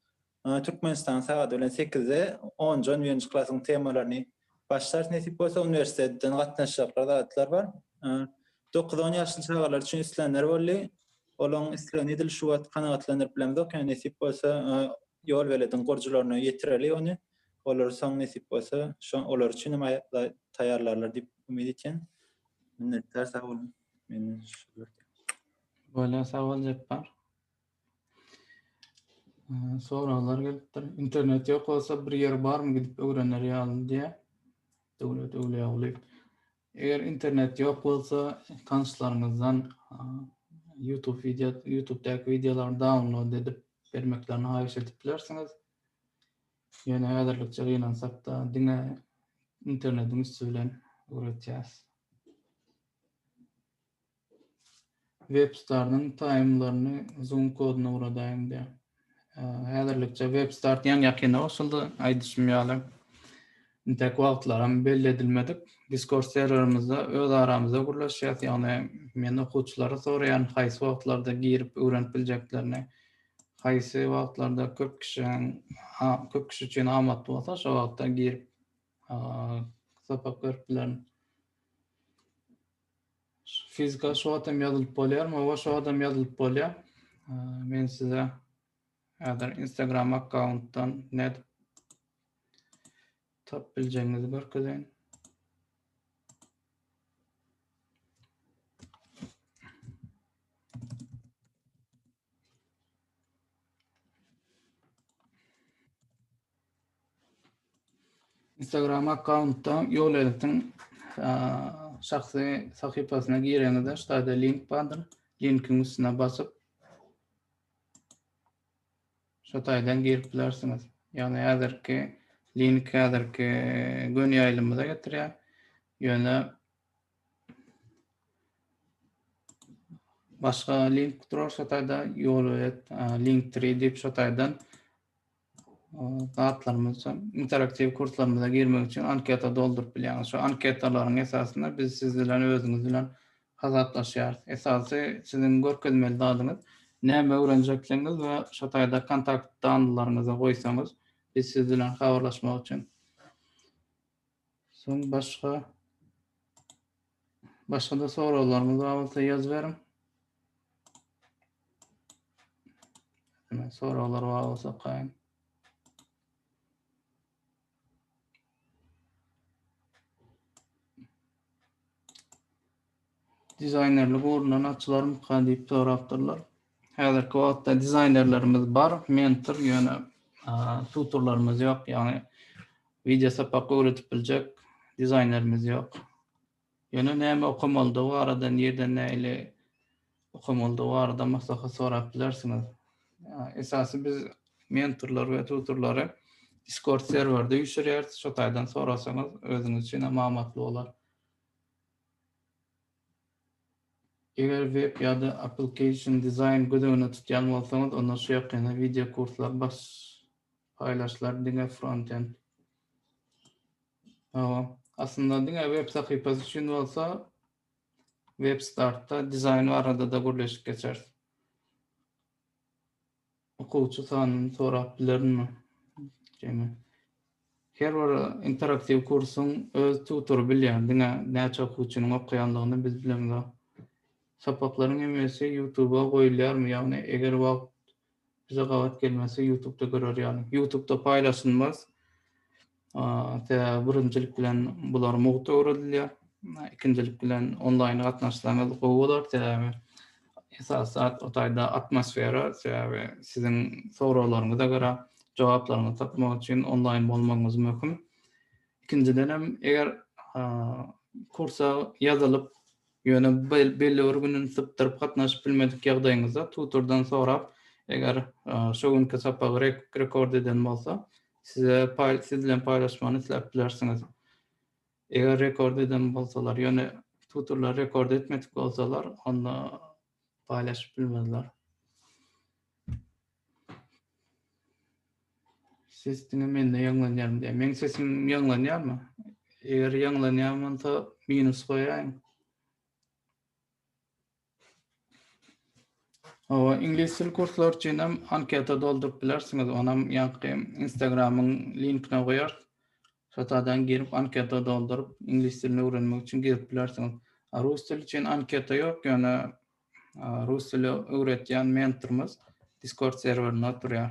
Türkmenistan sagat bilen sekizde onja-on birinji klasyň temalaryny başlarys nesip bolsa, uniwersitetden gatnaşjaklar zatlar bar. Dokuz-on ýaşly çagalar üçin islenler boldy. Olaryň islegini edil şu wagt kanagatlandyryp bilemzok, ýöne nesip bolsa ýol belediň gurujylaryna ýetireli ony. Olar soň nesip bolsa şo olar üçin hem taýýarlarlar diýip umyt etýän. Minnetdar sag boluň. Menden şu. Bolýa sag bol Jepbar. Soraglar gelipdir. Internet ýok bolsa bir ýer barmy gidip öwrener ýaly diýä. Döwlet Öwlüýagulyýew. Eger internet ýok bolsa tanşlaryňyzdan YouTube wideo YouTube-däki wideolary download edip bermeklerini haýyş edip bilersiňiz. Ýöne häzirlikçe gynansak-da diňe internetiň üsti bilen öwretýäs. Webstarnyň taýmlaryny zoom kodyna uradaýyň diýýär. Häzirlikçe webstart ýan ýakyna goşuldy. Aýdyşym ýaly, intäk wagtlaram belli edilmedik. Discord serwerimizde öz aramyzda gürleşýäs, ýagny men okuwçylara soraýan haýsy wagtlarda girip öwrenip biljeklerini, haýsy wagtlarda köp kişiniň köp kişi üçin amatly bolsa şo wagtda girip sapak görüp bilerin. Fizika şu adam ýazylyp bolýar, mawa şu adam ýazylyp bolýar. Men size häzir Instagram akkauntdan net tap biljegiňizi görkezeýin. Instagram akkauntda ýol editin şahsy sahypasyna gireňizde ştaýda link bardyr. Linkiň üstüne basyp şu taýdan girip bilersiňiz. Ýagny häzirki link häzirki gün ýaýlymyza getirýär. Ýöne Başga link durar şu taýda ýolöýet Linktree diýip şu taýdan zatlarymyz interaktiw kurslarymyza girmek üçin anketa dolduryp bilýäňiz. Şu anketalaryň esasynda biz siz bilen özüňiz bilen hasaplaşýarys. Esasy siziň görkezmeli zadyňyz näme öwrenjekdigiňiz we şu taýda kontakt danlylaryňyzy goýsaňyz biz siz bilen habarlaşmak üçin Soň başga başga-da soraglaryňyz bar bolsa ýazyberiň. Hemen soraglar bar bolsa okaýyn. Dizaýnerlik uguryndan açylarmyka diýip sorapdyrlar. Häzirki wagtda dizaýnerlerimiz bar, mentor ýöne tutorlarymyz ýok, ýagny wideo sapak öwredip biljek dizaýnerimiz ýok. Ýöne näme okamalydygy barada, nirden nähili okamalydygy barada maslahat sorap bilersiňiz. Esasy biz mentorlary we tutorlary Discord serwerde üýşürýäris. Şo taýdan sorasaňyz özüňiz üçin hem amatly bolar. Eger web ýa-da application dizaýn göz öňünde tutýan bolsaňyz, onda şu ýakynda wideo kurslar baş paýlaşdylar, diňe frontend. Hawa, aslynda diňe web sahypasy üçin bolsa WebStart-da dizaýn barada-da gürleşip geçeris. Okuwçy sanyny sorap bilerinmi? Jemi. Her bir interaktiw kursuň öz tutory bilýär, diňe näçe okuwçynyň okaýandygyny biz bilemizok. Sapaklaryň hemmesi ýutuba goýulýarmy, ýagny eger wagt bize gabat gelmese ýutubda görer ýaly. Ýutubda paýlaşylmaz. Sebäbi birinjilik bilen bular mugt öwredilýär. Ikinjilik bilen onlaýn gatnaşsaňyz gowy bolar. Sebäbi esas zat o taýda atmosfera. Sebäbi siziň soraglaryňyza görä jogaplaryňyzy tapmak üçin onlaýn bolmagyňyz möhüm. Ikinjiden hem eger kursa ýazylyp, ýöne belli bir gününi sypdyryp gatnaşyp bilmedik ýagdaýyňyzda tutordan sorap, eger şo günki sapagy rekord eden bolsa, Size paý siz bilen paýlaşmany isläp bilersiňiz. Eger rekord eden bolsalar, ýöne tutorlar rekord etmedik bolsalar, onda paýlaşyp bilmezler. Ses diňe mende ýaňlanýarmy diýýär. Meň sesim ýaňlanýarmy? Eger ýaňlanýan bolsa minus goýaýyň. Hawa, iňlis dil kurslary üçin hem anketa dolduryp bilersiňiz. Onam ýaňky Instagramyň linkine goýarys. Şo taýdan girip anketa dolduryp, iňlis dilini öwrenmek üçin girip bilersiňiz. A rus dili üçin anketa ýok, ýöne rus dili öwretýän mentorymyz Discord serwerinde oturýar.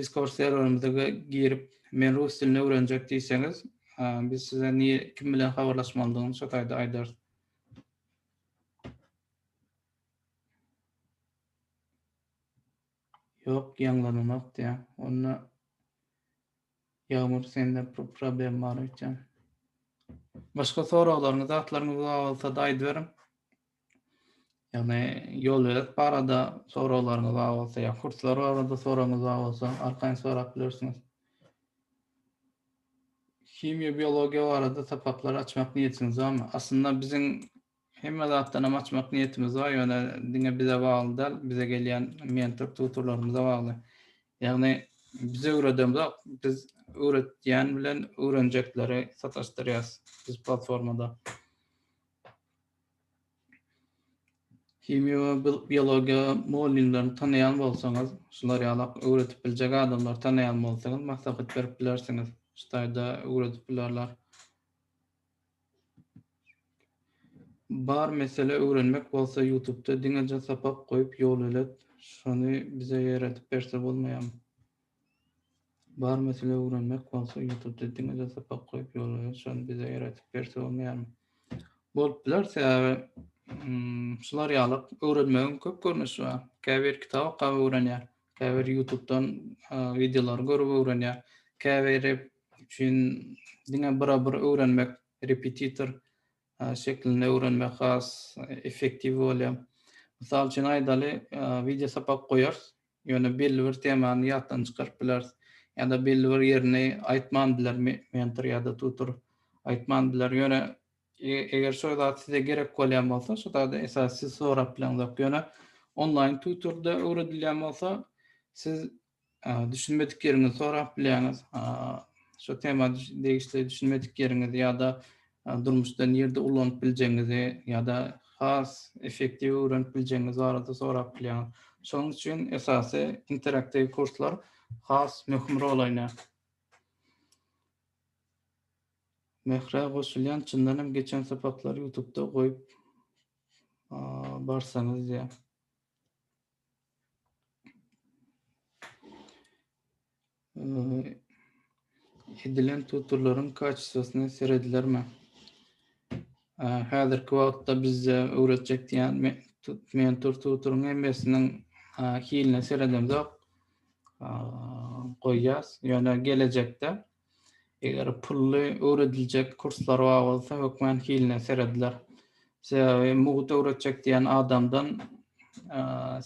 Discord serwerimize girip, men rus dilini öwrenjek diýseňiz, biz size kim bilen habarlaşmalydygyny şo taýda aýdarys. Ýok ýaňlananok diýýä. Onda Ýagmyr sende problem bar öýtýän. Başga soraglaryňyz zatlaryňyz bar bolsada aýdyberiň. Ýagny ýolöýüş barada soraglaryňyz bar bolsa ýa kurslar barada soragyňyz bar bolsa arkaýyn sorap bilersiňiz. Himiýa, biologiýa barada sapaklary açmak niýetiňiz barmy? Aslynda biziň hemme zatdanam açmak niýetimiz bar, ýöne diňe bize bagly däl, bize gelýän mentor, tutorlarymyza bagly. Ýagny biz öwredemzok, biz öwretýän bilen öwrenjekleri sataşdyrýarys biz platformada. Himiýa we biologiýa mugallymlaryny tanaýan bolsaňyz, şular ýaly öwredip biljek adamlary tanaýan bolsaňyz, maslahat berip bilersiňiz. Şu taýda öwredip bilerler. Bar mesele öwrenmek bolsa ýutubda diňeje sapak goýup ýol ölet, şony bize ýeredip berse bolmaýamy? Bar mesele öwrenmek bolsa ýutubda diňe-de sapak goýup ýolumyz şony bize öwredip berse bolmaýarmy? Bolup biler sebäbi şular ýaly öwrenmegiň köp görnüşi bar. Käbir kitap okap öwrenýär, käbir ýutubdan wideolary görüp öwrenýär, käbiri üçin diňe bira bir öwrenmek repetitor şeklinde öwrenmek has effektiw bolýar. Mysal üçin aýdaly wideo sapak goýarys Ýöne belli bir temany ýatdan çykaryp bileris. Ýa-da belli bir ýerini aýtman biler mentor ýa-da tutor. Aýtman biler. Ýöne eger şo zat size gerek bolýan bolsa, şo zady esasy siz sorap bileňzok. Ýöne onlaýn tutorda öwredilýän bolsa, siz düşünmedik ýeriňizi sorap bilýäňiz. Şo tema degişli düşünmedik ýeriňizi ýa-da Durmuşda nirde ulanyp biljegiňizi ýa-da has effektiw öwrenip biljegiňiz barada sorap bilýäňiz. Şonuň üçin esasy interaktiw kurslar has möhüm rol oýnaýar. Mährä goşulýan çyndan hem geçen sapaklary ýutubda goýup barsaňyz diýýär. edilen tuturlaryň kaçsasyna seredilermi? Häzirki wagtda bizde öwretjek diýen mentor tuturyň hemmesiniň hiline seredemzok goýýas. Ýöne gelejekde Eger pully öwrediljek kurslar bar bolsa hökmän hiline serediler. Sebäbi mugt öwretjek diýen adamdan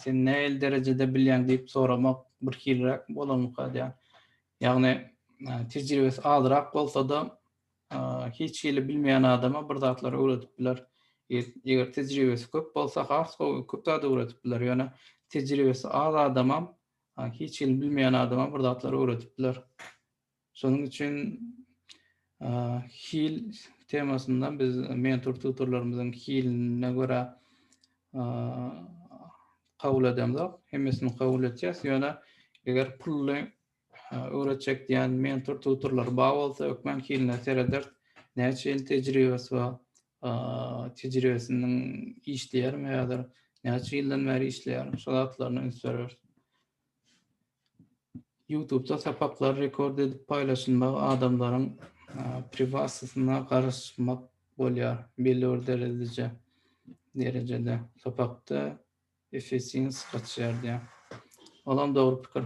sen nähili derejede bilýäň diýip soramak birhiliräk bolanlyka edýär. Ýagny tejribesi azrak bolsa-da hiç hili bilmeýän adama bir zatlar öwredip biler. Eger tejribesi köp bolsa has gowy köp zat öwredip biler. Ýöne tejribesi az adamam Ha, hiç hili bilmeýän adama bir zatlar öwredipdiler. Şonuň üçin hil temasynda biz mentor tutorlarymyzyň hiline görä kabul edemzok. Hemmesini kabul etjek. Ýöne eger pully öwretjek diýen mentor tutorlar bar bolsa, ökmen hiline sereder. Näçe ýyl tejribesi bar? tejribesiniň işleýärmi häzir, näçe ýyldan bäri işleýär, şol zatlaryna üns bereris. YouTube-da sapaklar rekord edip paýlaşylmagy adamlaryň priwatnostyna garyşmak bolýar belli bir derejede. Derejede sapakda efisiýens gaçýar diýýär. Olam dogry pikir.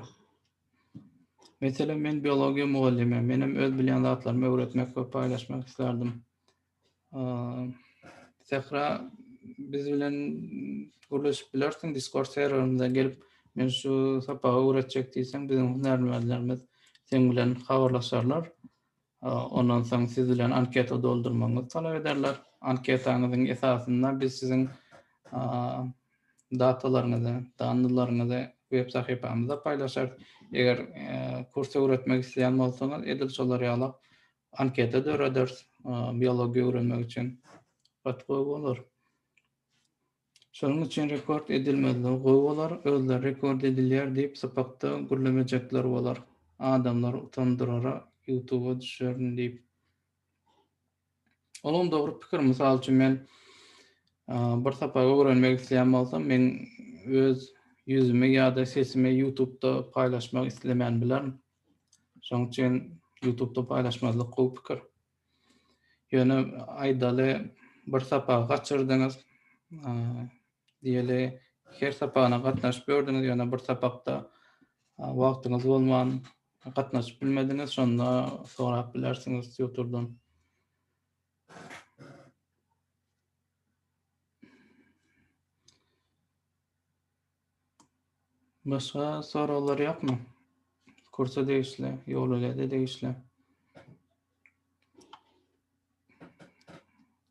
Meselem, men biologiýa mugallymym. Menem öz bilýän zatlarymy öwretmek we paýlaşmak islardim. Sähra biz bilen gürleşip bilersiň Discord serwerimize gelip men şu sapagy öwretjek diýseň biziň hünärmenlerimiz sen bilen habarlaşarlar. Ondan soň siz bilen anketa doldurmagyňyzy talap ederler. Anketaňyzyň esasynda biz siziň datalaryňyzy, danlylaryňyzy web sahypamyzda paýlaşarys. Eger kurs öwretmek isleýän bolsaňyz edil şolar ýalak Anketa dörederis biologiýa öwrenmek üçin. Gaty gowy bolar. Şonuň üçin rekord edilmezligi gowy bolar, özleri rekord edilýär diýip sypakda gürlemejekler bolar. Adamlary utandyrara ýutuba düşerin diýip. Olam dogry pikir, mysal üçin men bir sapak öwrenmek isleýän bolsam, men öz ýüzümi ýa-da sesimi ýutubda paýlaşmak islemän bilerin. Şonuň üçin YouTube-da paýlaşmazlyk gowy pikir. Ýöne aýdaly bir sapagy gaçyrdyňyz, diýeli her sapagyna gatnaşyp gördüňiz, ýöne bir sapakda wagtyňyz bolman gatnaşyp bilmediňiz, şonda sorap bilersiňiz tutordan. Başga soraglar ýokmy? Kursa degişli, ýolögede degişli.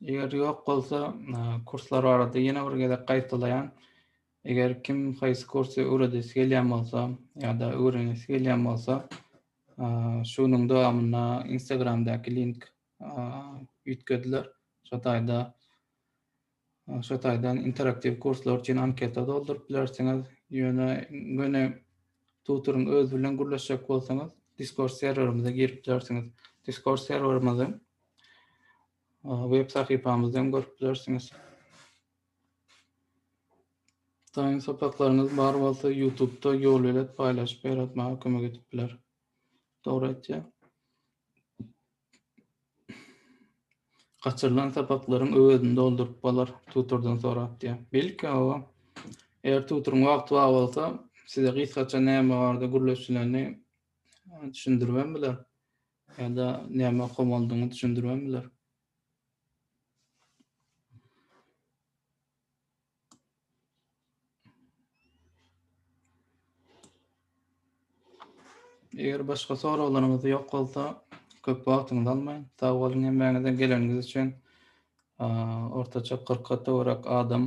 Eger ýok bolsa, e, kurslar barada ýene bir gezek gaýtalaýan. Eger kim haýsy kursy öwredesi gelýän bolsa ýa-da öwrenesi gelýän bolsa, e, şu günüň dowamynda Instagramdaky link e, üýtgediler. Şo taýda Şo taýdan interaktiw kurslar üçin anketa dolduryp bilersiňiz. Ýöne göni tutoryň özi bilen gürleşjek bolsaňyz, Discord serwerimize girip bilersiňiz. Discord serwerimizi web sahypamyzdan görüp bilersiňiz. Taýyn sapaklaryňyz bar bolsa, YouTube-da ýolbelet paýlaşyp ýaratmaga kömek edip biler. Dogry aýtýar. Gaçyrylan sapaklaryň öwezini dolduryp bolar, tutordan sorap diýýär. Belki, hawa. Eger tutoryň wagty bar bolsa, size gysgaça näme barada gürleşileni düşündirip hem biler. Ýa-da näme okamalydygyňy düşündirip hem biler. Eger başga soraglaryňyz ýok bolsa, köp wagtyňyzy almaýyn. Sag boluň hemmäňize geleniňiz üçin. Ortaça 40-a töwerek adam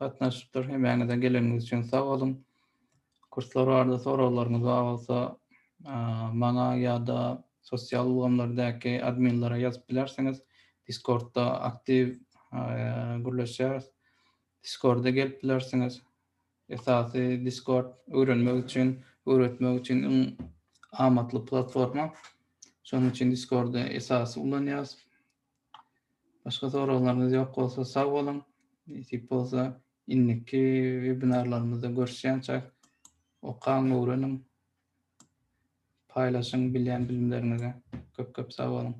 gatnaşypdyr. Hemmäňize geleniňiz üçin sag boluň. Kurslar barada soraglaryňyz bar bolsa, maňa ýa-da sosial ulgamlardaky adminlere ýazyp bilersiňiz. Discordda aktiw gürleşýäris. Discorda gelip bilersiňiz. Esasy Discord öwrenmek üçin, öwretmek üçin iň amatly platforma. Şonuň üçin Discordy esasy ulanýarys. Başga soraglaryňyz ýok bolsa sag boluň. Nesip bolsa indiki webinarlarymyzda görüşýänçäk. Okaň, öwreniň. Paýlaşyň bilýän bilimleriňizi. Köp köp sag boluň.